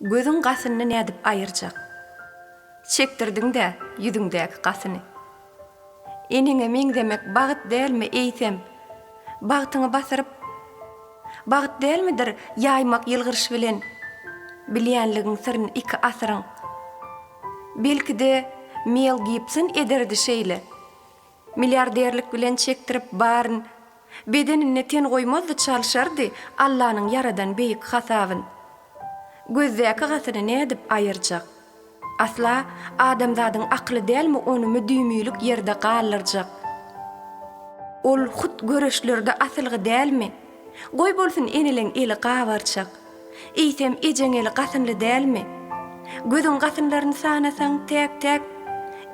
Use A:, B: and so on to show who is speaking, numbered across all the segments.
A: Gözüň gasyny nädip aýyrjak? Çekdirdiň-dä ýüzüňdäki gasyny. Eneňe meňzemek bagt dälmi, eýsem, bagtyňy basyryp, bagt dälmidir ýaýmak ýylgyryş bilen bilýänligiň syryny iki asyryň? Belki-de, Mel Gibson ederdi şeýle. Milliarderlik bilen çekdirip baryn. Bedeninde ten goýmazdy çalşardy Allanyň ýaradan beýik hasabyn. Gözdäki gatyny nädip aýyrjak? Asla adamzadyň akyly dälmi ony müdimilik ýerde galdyrjak? Ol hut göreşlerde asylgy dälmi? Goý bolsun eneleň eli gabarçak. Eýsem ejeň eli gasynly dälmi? Gözüň gasynlaryny sanasaň täk täk.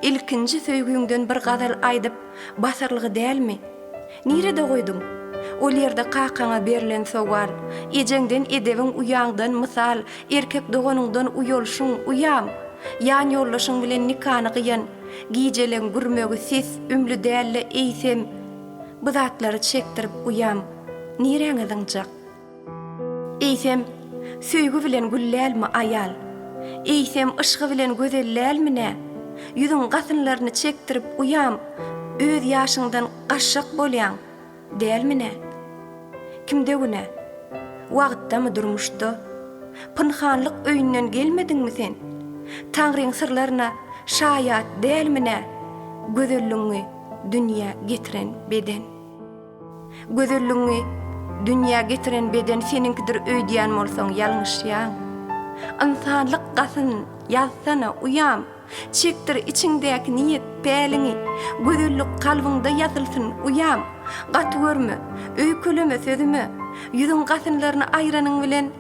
A: Ilkinji söýgüňden bir gazal aýdyp basarlygy dälmi? Nirede goýduň? Ol ýerde kakaňa berlen sowal, ejeňden edebiň uýaňdan mysal erkek doganyňdan uýalşyň, uýam! Ýan ýoldaşyň bilen nikany gyýan gijeleň gürmegi ses ümli dälde eýsem, Bu zatlary çekdirip uýam niräňe zyňjak? Eýsem, söýgi bilen güllälmi aýal? Eýsem, yşgy bilen gözellälmi nä? Ýüzüň gasynlaryny çekdirip uýam öz ýaşyňdan gaşşak bolýaň, dälmi nä? Kimde günä? Wagtdamy durmuşda? Pynhanlyk öýünden gelmediňmi sen? Taňryň syrlaryna şaýat dälmi nä gözelligiňi? dünýä getiren beden. Gözelligiňi dünýä getiren beden seniňkidir öýdýän bolsaň ýalňyşýaň. Ynsanlyk gasyn ýazsana, uýam, çekdir içiňdäki niýet, päliňi, gözellik kalbyňda ýazylsyn, uýam, gaty görme, öýkeleme sözüme, ýüzüň gasynlaryny aýranyň bilen,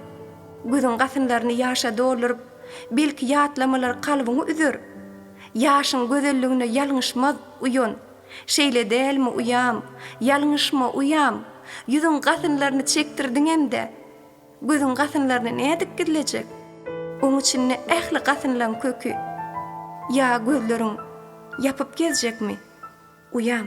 A: gözüň gasynlaryny ýaşa dolduryp, Belki ýatlamalar kalbyňy üzer? Ýaşyň gözelligine ýalňyşmaz, uýan. Şeýle dälmi, uýam? Ýalňyşma, uýam! Ýüzüň gasynlaryny çekdirdiňem-dä! Gözüň gasynlaryny nädip gizlejek? Oň içinde ähli gasynlaň köki. Ýa gözleriň ýapyp gezjekmi, uýam?